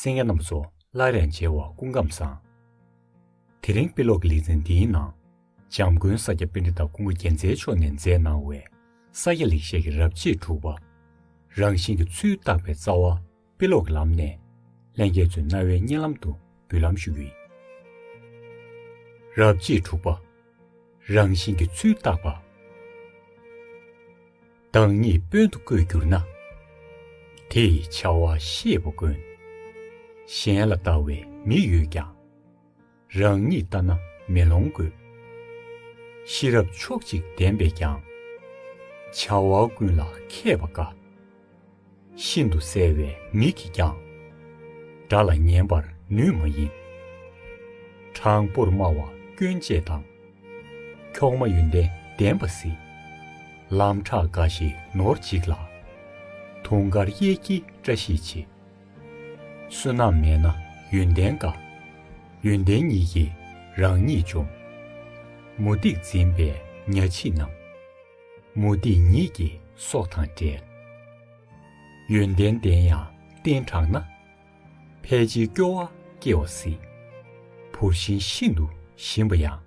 སེང་གེ་རྣམས་སུ་སླར་ཡང་མཇལ་བ་ཀུན་ཁམས་བཟང། དེ་རིང་དཔེ་ཀློག་གི་ལེ་ཚན་འདིའི་ནང། འཇམ་མགོན་ས་སྐྱ་དཔེ་འདྲེ་དང་ཀུན་དགའ་རྒྱལ་མཚན་མཆོག་ནས་མཛད་གནང་བའི་ས་སྐྱ་ལེགས་བཤད་ཀྱི་རབ་བྱེད་དྲུག་པ། རང་བཞིན་གྱི་ཚུལ་བརྟག་པའི་རྩ་བ་དཔེ་ཀློག་གི་ལམ་ནས། ལྷན་རྒྱས་ཚོའི་རྣ་བའི་སྙན་ལམ་དུ་འབུལ་ལམ་ཞུ་རྒྱུ་ཡིན། རབ་བྱེད་དྲུག་པ། རང་བཞིན་གྱི་ཚུལ་བརྟག་པ། བདག་ཉིད་དཔོན་དུ་བསྐོས་གྱུར་ན། དེས་བྱ་བ་ཤེས་པ་དཀོན། གཞན་ལ་ལྟ་བའི་མིག་ཡོད་ཀྱང། རང་ཉིད་ལྟ་ན་མེ་ལོང་དགོས། ཤེས་རབ་ཕྱོགས་གཅིག་ལྡན་པས་ཀྱང། བྱ་བ་ཀུན་ལ་མཁས་པ་དཀའ། ཤིན་ཏུ་གསལ་བའི་མིག་གིས་ཀྱང། དགྲ་ལ་ཉན་པར་ནུས་མ་ཡིན། དྲང་པོར་སྨྲ་བ་སྐྱོན་བཅས་དང། འཁྱོག་མ་ཡོན་ཏན་ལྡན་པ་གཟིགས། ལམ་ཕྲག་འགའ་ཞིག་ནོར་འཇིགས་ལ། དུང་དཀར་གཡས་འཁྱིལ་བཀྲ་ཤིས་བྱེད། བསོད་ནམས་མེད་ན་ཡོན་ཏན་འགའ། ཡོན་ཏན་ཉིད་ཀྱིས་རང་ཉིད་འཇོམས། མུ་སྟེགས་འཛིན་པའི་གཉའ་ཕྱིས་རྣམས། མུ་སྟེགས་ཉིད་ཀྱི་སྲོག་དང་བྲལ། ཡོན་ཏན་ལྡན་ཡང་རྟེན་དྲགས་ན། ཕལ་ཆེར་སྐྱོ་བ་སྐྱེ་བ་སྲིད། བུར་བཞིན་ཤིན་ཏུ་ཞིམ་པ་ཡང།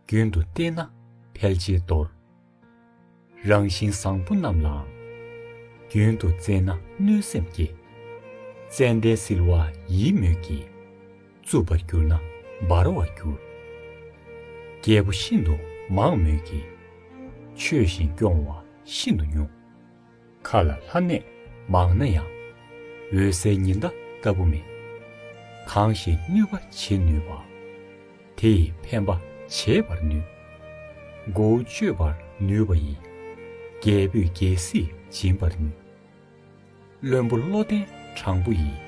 རྒྱུན་དུ་བསྟེན་ན་ཕལ་ཆེར་འདོར། རང་བཞིན་བཟང་པོ་རྣམས་ལའང། རྒྱུན་དུ་བཙལ་ན་གནོད་སེམས་སྐྱེ། ཙནྡན་བསིལ་བ་ཡིད་མོས་ཀྱིས། རྩུབ་པར་གྱུར་ན་འབར་བར་འགྱུར། རྒྱལ་པོ་ཤིན་ཏུ་མང་མོད་ཀྱི། ཆོས་བཞིན་སྐྱོང་བ་ཤིན་ཏུ་ཉུང། མཁའ་ལ་ལྷ་གནས་མང་ན་ཡང། འོད་གསལ་ཉི་ཟླ་ལྟ་བུ་མེད། གང་ཞིག་གནོད་པ་བྱེད་ནུས་པ། དེ་ཡིས་ཕན་པ་བྱེད་པར་ནུས། མགོ་བོ་གཅོད་པར་ནུས་པ་ཡིས། རྒྱལ་པོས་རྒྱལ་སྲིད་སྦྱིན་པར་ནུས། བློན་པོ་བློ་ལྡན་དྲང་པོ་ཡིས།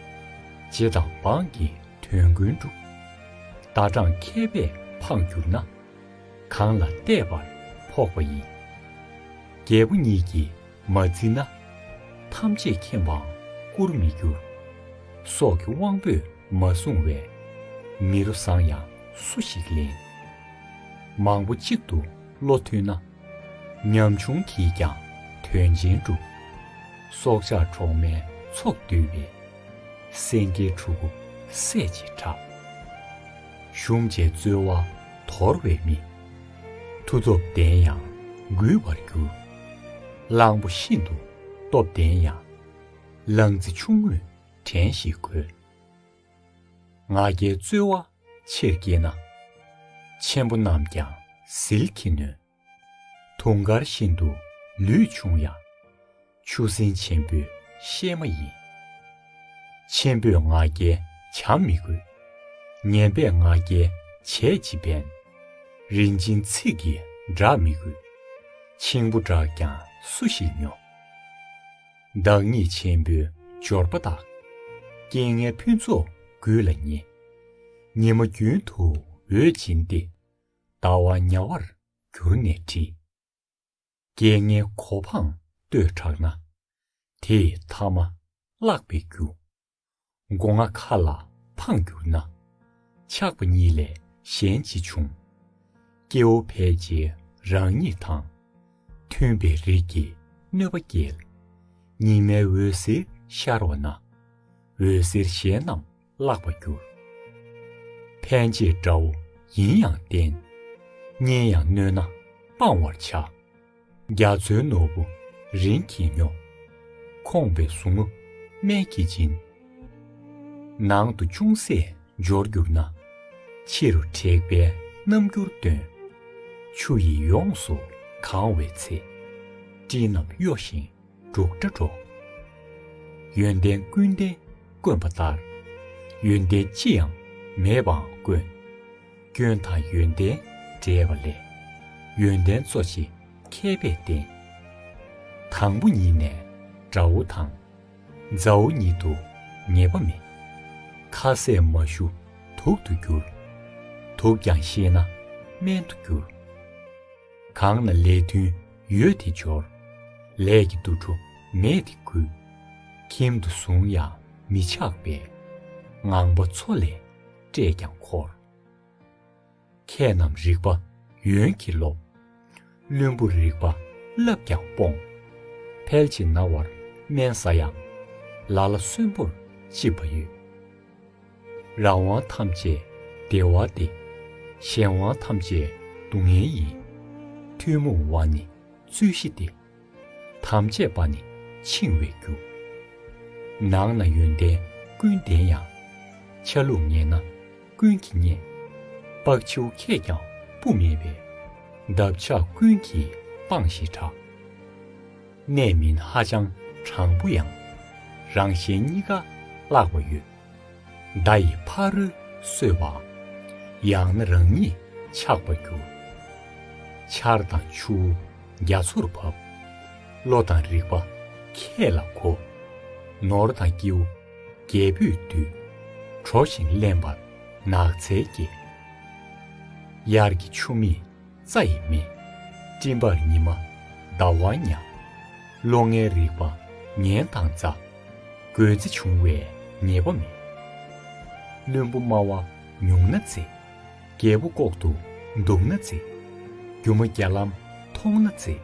རྗེ་དང་འབངས་ཀྱི་དོན་ཀུན་སྒྲུབ། ཟླ་གྲངས་མཁས་པས་འཕངས་གྱུར་ན། གང་ལ་བལྟས་པར་ཕོག་པ་ཡིན། རྒྱལ་པོ་ཉིད་ཀྱིས་མ་བརྩིས་ན། ཐམས་ཅད་མཁྱེན་པའང་བཀུར་མི་འགྱུར། སྲོག་གི་དབང་པོས་མ་བཟུང་བས། མི་རོ་བཟང་ཡང་སུ་ཞིག་ལེན། མང་པོ་གཅིག་ཏུ་བློ་མཐུན་ན། ཉམ་ཆུང་གིས་ཀྱང་དོན་ཆེན་སྒྲུབ། སྲོག་ཆགས་འཕྲོག་མའི་ཚོགས་བསྡུས་པས། སེང་གེའི་ཕྲུ་གུ་སྲས་ཀྱི་གྲགས། གཞུང་བཅས་རྩོལ་བ་དོར་བའི་མི། མཐུ་སྟོབས་ལྡན་ཡང་འགུལ་བར་འགྱུར། གླང་པོ་ཤིན་ཏུ་སྟོབས་ལྡན་ཡང། གླང་རྩི་ཆུང་ངུས་བྲན་ཞིག་གོལ། ང་རྒྱལ་རྩོལ་བ་ཆེར་བསྐྱེད་ན། ཆེན་པོ་རྣམས་ཀྱང་ཟིལ་གྱིས་ནོན། དུང་དཀར་བཞིན་དུ་ལུས་ཕྱུང་ཡང། ཆུ་སྲིན་ཆེན་པོའི་གཤེད་མ་ཡིན། ཆེན་པོས་ང་རྒྱལ་བྱམས་མི་དགོས། ངན་པས་ང་རྒྱལ་བྱས་ཅི་ཕན། རིན་ཆེན་ཚིག་གིས་བསྒྲག་མི་དགོས། འཆིང་བུ་བསྒྲགས་ཀྱང་སུ་ཞིག་སྨྱོ། བདག་ཉིད་ཆེན་པོའི་འབྱོར་པ་དག། རྐྱེན་ངན་ཕུན་ཚོགས་ཀུན་ལ་ཉེ། ཉི་མ་རྒྱུན་དུ་འོད་འབྱིན་ཏེ། ལྟ་བ་དམྱལ་བར་གྱུར་ནས་བྲི། རྐྱེན་ངན་གོ་འཕང་ལྟོས་དྲགས་ན། དེས་ཐ་མ་བརླག་པའི་རྒྱུ། སྒོ་ང་ཁ་ལ་འཕངས་གྱུར་ན། ཆགས་པ་གཉིས་ལས་གཞན་ཅི་འབྱུང། སྐྱེ་བོ་ཕལ་ཆེ་རང་ཉིད་དང། མཐུན་པའི་རིགས་ཀྱིས་གནོད་པ་བསྐྱེལ། ཉི་མའི་འོད་ཟེར་ཤར་བ་ན། འོད་ཟེར་གཞན་རྣམས་བརླག་པར་འགྱུར། ཕན་བྱེད་དགྲ་བོ་ཡིན་ཡང་བསྟེན། གཉེན་ཡང་གནོད་ན་སྤང་བར་བྱ། རྒྱ་མཚོའི་ནོར་བུ་རིན་གྱིས་སྙོགས། ཁོངས་པའི་ཟུག་རྔུ་སྨན་གྱིས་སྦྱིན། ནང་དུ་ཅུང་ཟད་འབྱོར་གྱུར་ན། ཕྱི་རུ་དྲེགས་པའི་རྣམ་འགྱུར་སྟོན། ཆུ་ཡིས་ཡོངས་སུ་གང་བའི་ཚེ། སྤྲིན་རྣམས་གཡོ་ཞིང། འབྲུག་སྒྲ་སྒྲོག། ཡོན་ཏན་ཀུན་ལྡན་དཀོན་པ་ལྟར། ཡོན་ཏན་ཅི་ཡང་མེད་པའང་དཀོན། སྐྱོན་དང་ཡོན་ཏན་འདྲེས་པ་ལས། ཡོན་ཏན་གཙོ་ཆེ་མཁས་པས་བསྟན། དང་པོ་ཉིད་ནས་དགྲ་བོ་དང། མཛའ་བོ་ཉིད་དུ་ངེས་པ་མེད། ཁ་ཟས་མ་ཞུ་དུག་ཏུ་འགྱུར། དུག་ཀྱང་ཤེས་ན་སྨན་དུ་འགྱུར། གང་ལ་ལས་མཐུན་ཡོད་དེ་སྦྱོར། ལས་ཀྱི་འདུ་འཕྲོ་མེད་དེ་བསྐུལ། ཁྱིམ་དུ་བཟུང་ཡང་མི་ཆགས་པས། ངང་པ་མཚོ་ལས་བསྐྲད་ཀྱང་འཁོར། མཁས་རྣམས་རིག་པ་ཡོན་གྱིས་རློབས། བླུན་པོ་རིག་པ་བསླབས་ཀྱང་སྤོངས། ཕལ་ཆེ་ན་བར་སྨན་ཟ་ཡང། ལ་ལ་གསོན་པོར་ལྕི་བ་ཡོད། རང་དབང་ཐམས་ཅད་བདེ་བ་སྟེ། གཞན་དབང་ཐམས་ཅད་སྡུག་བསྔལ་ཡིན། ཐུན་མོང་བ་ནི་རྩོད་གཞི་སྟེ། དམ་བཅས་པ་ནི་འཆིང་བའི་རྒྱུ། ནང་ན་ཡོན་ཏན་ཀུན་ལྡན་ཡང། ཆ་ལུགས་ངན་ན་ཀུན་གྱིས་བརྙས། ལྤགས་ཆུ་ཁད་ཀྱང་སྤུ་མེད་པའི། འདབ་ཆགས་ཀུན་གྱིས་སྤངས་ཞེས་གྲགས། གནས་མིན་ཧ་ཅང་དྲང་པོ་ཡང། རང་གཞན་གཉིས་ཀ་བརླག་པ་ཡོད། མདའ་ཡི་ཕ་རོལ་གསོད་པ། ཡང་ན་རང་ཉིད་ཆགས་པར་འགྱུར། ཆར་དང་ཆུ་བོ་རྒྱ་མཚོར་བབ། བློ་དང་རིག་པ་ཁྱེད་ལ་གོ། ནོར་དང་སྐྱེ་བོ་རྒྱལ་པོས་བསྡུས། གྲོ་བཞིན་བརླན་པར་ནགས་ཚལ་སྐྱེས། དབྱར་གྱི་ཆུ་མིག། རྩ་ཡི་མེ། སྤྲིན་པར་ཉི་མ་ཟླ་བ་མྱ། ལོ་ལྔའི་རིག་པ་ངན་དང་རྩ། རྒོད་རྩེ་བྱུང་བའི་ཉེས་པ་མེད། བླུན་པོ་སྨྲ་བ་ཉུང་ན་རྩེ། རྒྱལ་པོ་ལྐོག་ཏུ་འདུག་ན་རྩེ། སྒྱུ་མ་བརྒྱ་ལམ་མཐོང་ན་རྩེ།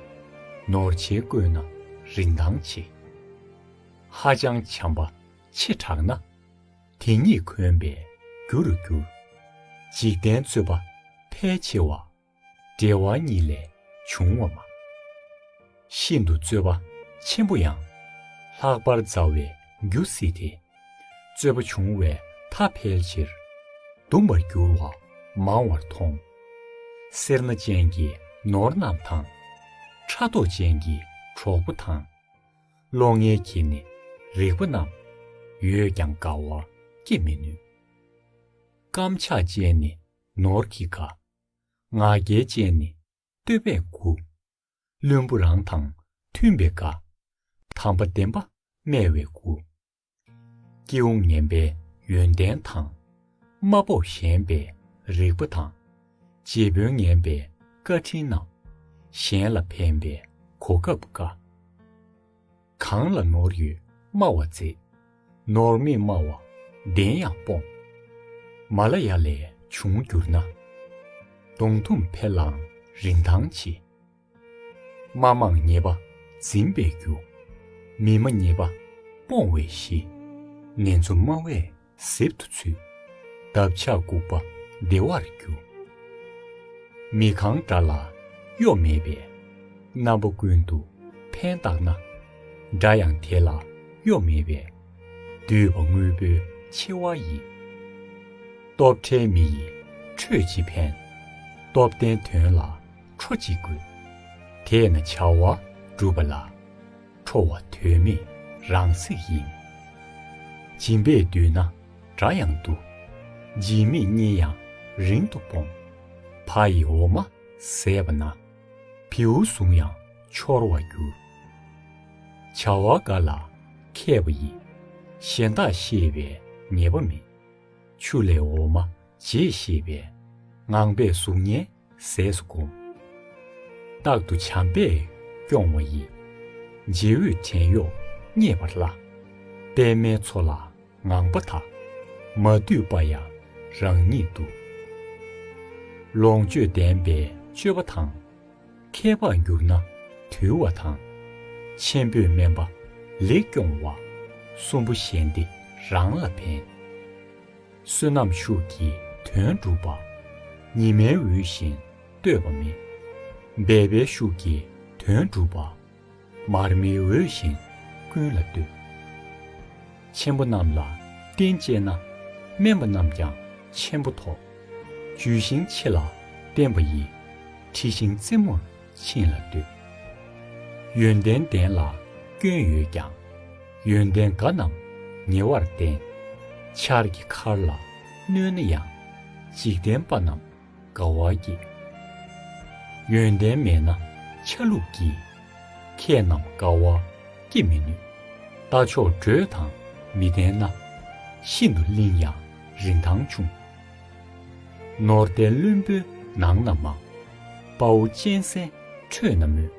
ནོར་ཆེན་བརྐོས་ན་རིན་ཐང་ཆེ། ཧ་ཅང་བྱམས་པ་ཆེ་དྲགས་ན། དེ་ཉིད་གོན་པའི་རྒྱུ་རུ་འགྱུར། འཇིག་རྟེན་རྩོད་པ་ཕལ་ཆེ་བ། འབྲེལ་བ་ཉིད་ལས་བྱུང་བ་མ། ཤིན་ཏུ་རྩོད་པ་ཆེན་པོ་ཡང། ལྷག་པར་མཛའ་བའི་རྒྱུ་སྲིད་དེ། རྩོད་པ་བྱུང་བའི་མཐའ་ཕལ་ཆེར། གདུང་བར་འགྱུར་བ་མང་བར་མཐོང། སེར་སྣ་ཅན་གྱི་ནོར་རྣམས་དང། ཕྲ་དོག་ཅན་གྱི་གྲོགས་པོ་དང། བློ་ངན་གྱིས་ནི་རིག་པ་རྣམས། ཡོད་ཀྱང་དགའ་བར་བསྐྱེད་མི་ནུས། བརྐམ་ཆགས་ཅན་ནི་ནོར་གྱིས་དགའ། ང་རྒྱལ་ཅན་ནི་བསྟོད་པས་མགུ། བླུན་པོ་རང་དང་མཐུན་པས་དགའ། དམ་པ་བདེན་པ་སྨྲ་བས་མགུ། སྐྱེ་བོ་ངན་པའི་ཡོན་ཏན་དང། དམའ་དཔོག་གཞན་པའི་རིགས་པ་དང། རྗེ་དཔོན་ངན་པའི་བཀའ་དྲིན་རྣམས། གཞན་ལ་ཕན་པའི་གོ་སྐབས་དཀའ། གང་ལ་ནོར་ཡོད་སྨྲ་བ་མཛེས། ནོར་མེད་སྨྲ་བ་བདེན་ཡང་སྤོང། མ་ལ་ཡ་ལས་བྱུང་གྱུར་ན། གདུང་ཐུམ་འཕེལ་ལའང་རིན་ཐང་ཆེ། མ་མང་ཉེས་པ་འཛིན་པའི་རྒྱུ། མི་སྨྲ་ཉེས་པ་སྤོང་བའི་གཞི། ངན་འཚོ་སྨྲ་བས་གཟེབ་ཏུ་ཚུད། འདབ་ཆགས་ལྐུགས་པ་བདེ་བར་རྒྱུ། མི་གང་དགྲ་ལ་གཡོ་མེད་པའི། རྣམ་པ་ཀུན་ཏུ་ཕན་བཏགས་ན། དགྲ་ཡང་དེ་ལ་གཡོ་མེད་པའི། འདུས་པ་དངོས་པོའི་ཆེ་བ་ཡི། སྟོབས་བྲལ་མི་ཡི་ཁྲོད་ཅི་ཕན། སྟོབས་ལྡན་དོན་ལ་ཁྲོ་གཅིག་དགོས། དེས་ན་བྱ་བ་སྒྲུབ་པ་ལ། ཁྲོ་བ་དོན་མེད་རང་ཚིག་ཡིན། སྦྱིན་པས་བསྡུས་ན་དགྲ་ཡང་བསྡུ། སྦྱིན་མེད་གཉིས་ཡང་རིང་དུ་སྤོང། ཕ་ཡི་འོ་མ་ཟས་པ་ན། བེའུ་ཟུང་ཡང་འཆོར་བར་འགྱུར། བྱ་བ་འགའ་ལ་མཁས་པ་ཡིས། གཞན་དག་ཤེས་པའི་ངེས་པ་མེད། ཆུ་ལས་འོ་མ་འབྱེད་ཤེས་པའི། ངང་པས་གཟུགས་བརྙན་ཟས་སུ་བསྒོམ། རྟག་ཏུ་བྱམས་པས་སྐྱོང་བ་ཡི། རྗེས་འོད་བྲན་གཡོག་མཉེས་པར་བརླག། པདྨའི་མཚོ་ལ་ངང་པ་དག། མ་འདུས་པ་ཡང་རང་ཉིད་དུ། ལོངས་སྤྱོད་ལྡན་པའི་སྤྱོད་པ་དང། ཁྱད་འཕགས་འགྱུར་ན་དུལ་བ་དང། ཆེན་པོས་སྨན་པ་ལེགས་སྐྱོང་བ། གསུམ་པོ་གཞན་སྡེ་རང་ལ་ཕན། བསོད་ནམས་ཤུགས་ཀྱིས་དོན་བསྒྲུབ་པ། ཉི་མའི་འོད་བཞིན་ལྟོས་པ་མེད། འབད་པའི་ཤུགས་ཀྱིས་དོན་བསྒྲུབ་པ། མར་མེའི་འོད་བཞིན་ཀུན་ལ་ལྟོས། ཆེན་པོ་རྣམས་ལ་རྟེན་བཅས་ན། དམན་པ་རྣམས་ཀྱང་ཆེན་པོ་ཐོབ། འཇུས་ཤིང་ཆེ་ལ་བརྟན་པ་ཡི། འཁྲི་ཤིང་རྩེ་མོར། ཕྱིན་ལ་འདོད། ཡོན་ཏན་ལྡན་ལ་སྐྱོན་ཡོད་ཀྱང། ཡོན་ཏན་དགའ་རྣམས་ཉེ་བར་བསྟེན། ཆར་གྱི་མཁར་ལ་གནོད་ན་ཡང། འཇིག་རྟེན་པ་རྣམས་དགའ་བ་སྐྱེ། ཡོན་ཏན་མེད་ན་ཆ་ལུགས་ཀྱིས། ཁྱེད་རྣམས་དགའ་བ་སྐྱེ་མི་ནུས། རྟ་མཆོག་འགྲོས་དང་མི་ལྡན་ན། ཤིན་ཏུ་བརླིང་ཡང་རིན་ཐང་ཆུང། ནོར་ལྡན་བློན་པོའི་ནང་ན་མང། དཔའ་བོ་གཅན་གཟན་ཁྲོད་ན་མོད།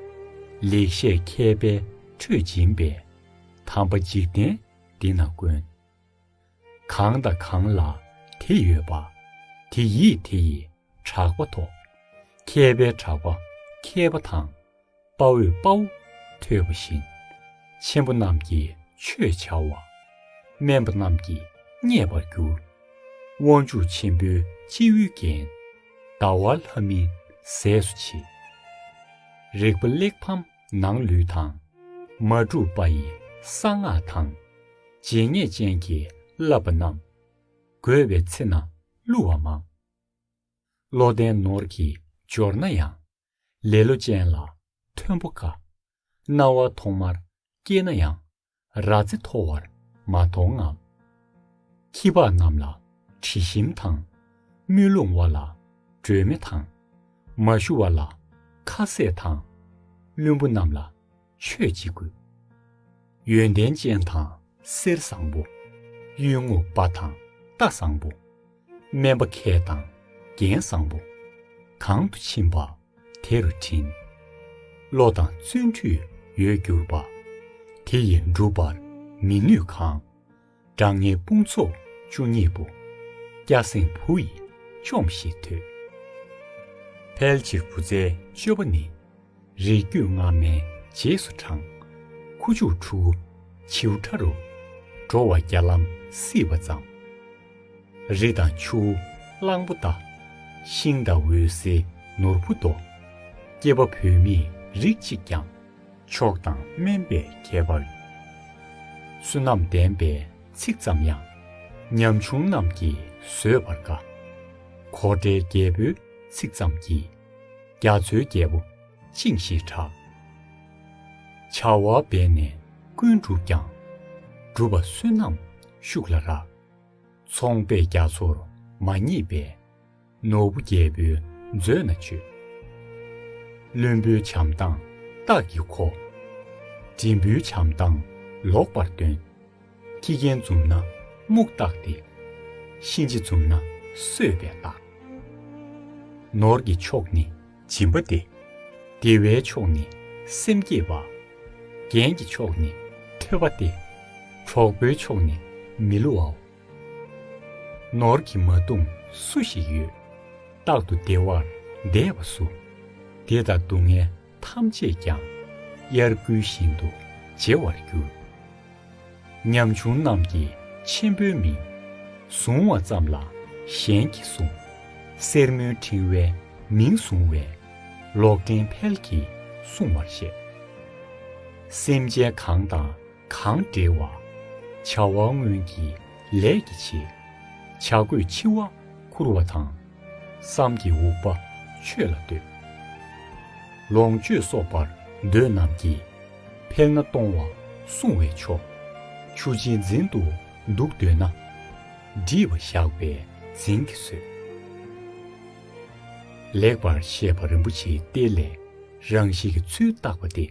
ལེགས་བཤད་མཁས་པའི་ཁྲོད་སྦྱིན་པའི། དམ་པ་འཇིག་རྟེན་འདི་ན་དཀོན། གང་དང་གང་ལ་དེ་ཡོད་པ། དེ་ཡིས་དེ་ཡི་གྲགས་པ་ཐོབ། མཁས་པའི་གྲགས་པ་མཁས་པ་དང། དཔའ་བོས་དཔའ་བོ་ཐོས་པ་བཞིན། ཆེན་པོ་རྣམས་ཀྱིས་ཆོས་བྱ་བ། དམན་པ་རྣམས་ཀྱིས་བརྙས་པར་འགྱུར། དབང་ཕྱུག་ཆེན་པོའི་སྤྱི་བོའི་རྒྱན། ཟླ་བ་ལྷ་མིན་ཟས་སུ་བྱེད། རེག་པ་གླེགས་བམ་ནང་ལུས་དང། མ་བསྒྲུབས་པ་ཡི་གསང་སྔགས་དང། བརྗེད་ངས་ཅན་གྱིས་བསླབས་པ་རྣམས། དགོས་པའི་ཚེ་ན་བསླུ་བ་མང། བློ་ལྡན་ནོར་གྱིས་འབྱོར་ན་ཡང། ལེ་ལོ་ཅན་ལ་མཐོན་པོ་དཀའ། རྣ་བ་ཐོག་མར་སྐྱེས་ན་ཡང། རྭ་རྩེ་མཐོ་བར་མ་མཐོང་ངམ། ཁྱི་ཕག་རྣམས་ལ་དྲི་ཞིམ་དང། དམུས་ལོང་བ་ལ་སྒྲོལ་མེ་དང། མ་ཞུ་བ་ལ་ཁ་ཟས་དང། བླུན་པོ་རྣམས་ལ། ཆོས་ཀྱི་སྐུ། ཡོན་ཏན་ཅན་དང་གསེར་བཟང་པོ། གཡོན་རྔུབ་པ་དང་རྟ་བཟང་པོ། སྨན་པ་མཁས་དང་རྒྱན་བཟང་པོ། གང་དུ་ཕྱིན་པ་དེ་རུ་བྲིན། བློ་དང་བརྩོན་འགྲུས་ཡོད་གྱུར་པ། དེ་ཡིས་འགྲུབ་པར་མི་ནུས་གང། དགྲ་ངན་དཔུང་ཚོགས་བཅུ་གཉིས་པོ། སྐྱ་སེང་བུ་ཡིས་ཆོམས་ཤིག་དུས། ཕལ་ཆེར་བུ་བཙའི་སྤྱོད་པ་ནི། རིགས་རྒྱུད་སྔ་མའི་རྗེས་སུ་འབྲང། ཁུ་བྱུག་ཕྲུ་གུ་བྱིའུ་ཁྲ་རུ། འགྲོ་བ་བརྒྱ་ལམ་སྲིད་པ་ཙམ། རི་དང་ཆུ་བོ་གླང་པོ་རྟ། ཤིང་དང་འོད་ཟེར་ནོར་བུ་རྡོ། སྐྱེས་པ་བུད་མེད་རིགས་གཅིག་ཀྱང། མཆོག་དང་སྨན་པའི་ཁྱད་པར་ཡོད། བསོད་ནམས་ལྡན་པས་ཚིག་ཙམ་ཡང། ཉམ་ཆུང་རྣམས་ཀྱིས་བཟོད་པར་དཀའ། གོ་འདྲའི་རྒྱལ་པོའི་ཚིག་ཙམ་གྱིས། རྒྱ་མཚོའི་རྒྱལ་པོ་བཅིངས་ཞེས་གྲགས། བྱ་བ་འབད་ནས་ཀུན་བསྒྲུབས་ཀྱང། སྒྲུབ་པ་བསོད་ནམས་ཤུགས་ལ་རག། ཚོང་པས་རྒྱ་མཚོར་མ་བརྙེས་པས། ནོར་བུ་རྒྱལ་པོའི་མཛོད་ན་སྤྱོད། བློན་པོའི་བྱམས་སྡང་སྟག་གི་མཁོ། འབྲིང་པོའི་བྱམས་སྡང་ལོག་པར་སྟོན། ཁྱི་རྒན་འཛུམ་ན་སྨུག་སྟག་སྟེ། གཤིན་རྗེ་འཛུམ་ན་གསོད་པའི་སྟག། ནོར་གྱི་མཆོག་ནི་སྦྱིན་པ་སྟེ། བདེ་བའི་མཆོག་ནི་སེམས་བསྐྱེད་པ། རྒྱན་གྱི་མཆོག་ནི་ཐོས་པ་སྟེ། གྲོགས་པོའི་མཆོག་ནི་མི་བསླུ་བའོ། ནོར་གྱིས་མ་བཏུམས་སུ་ཞིག་ཡོད། རྟག་ཏུ་བདེ་བར་བདས་པ་སུ། བདེ་དང་སྡུག་བསྔལ་ཐམས་ཅད་ཀྱང། དབྱར་དགུན་བཞིན་དུ་བརྗེ་བར་འགྱུར། ཉམ་ཆུང་རྣམས་ཀྱི་ཆེན་པོའི་མིང། བཟུང་བ་ཙམ་ལ་གཞན་གྱིས་བཟུང། སེར་མོའི་ཕྲེང་བས་མིང་བཟུང་བས། ལོག་འདྲེན་ཕལ་གྱིས་བསྲུང་བར་བཤད། སེམས་ཅན་གང་དང་གང་འབྲེལ་བ། བྱ་བ་སྔོན་གྱི་ལས་ཀྱི་བྱེད། བྱ་རྒོད་འཆི་བ་ཁུར་བ་དང། བསམ་གྱི་འུག་པ་ཆོས་ལ་ལྟོས། ལོངས་སྤྱོད་གསོག་པར་འདོད་རྣམས་ཀྱི། ཕེག་ན་གཏོང་བ་སྲུང་བའི་མཆོག། ཆུ་སྦྱིན་འཛིན་དུ་འདུག་འདོད་ན། འདྲིས་པ་ཞགས་པས་འཛིན་གྱིས་གསོད། ལེགས་པར་བཤད་པ་རིན་པོ་ཆེའི་གཏེར་ལས་རང་བཞིན་གྱི་ཚུལ་བརྟགས་པ་སྟེ།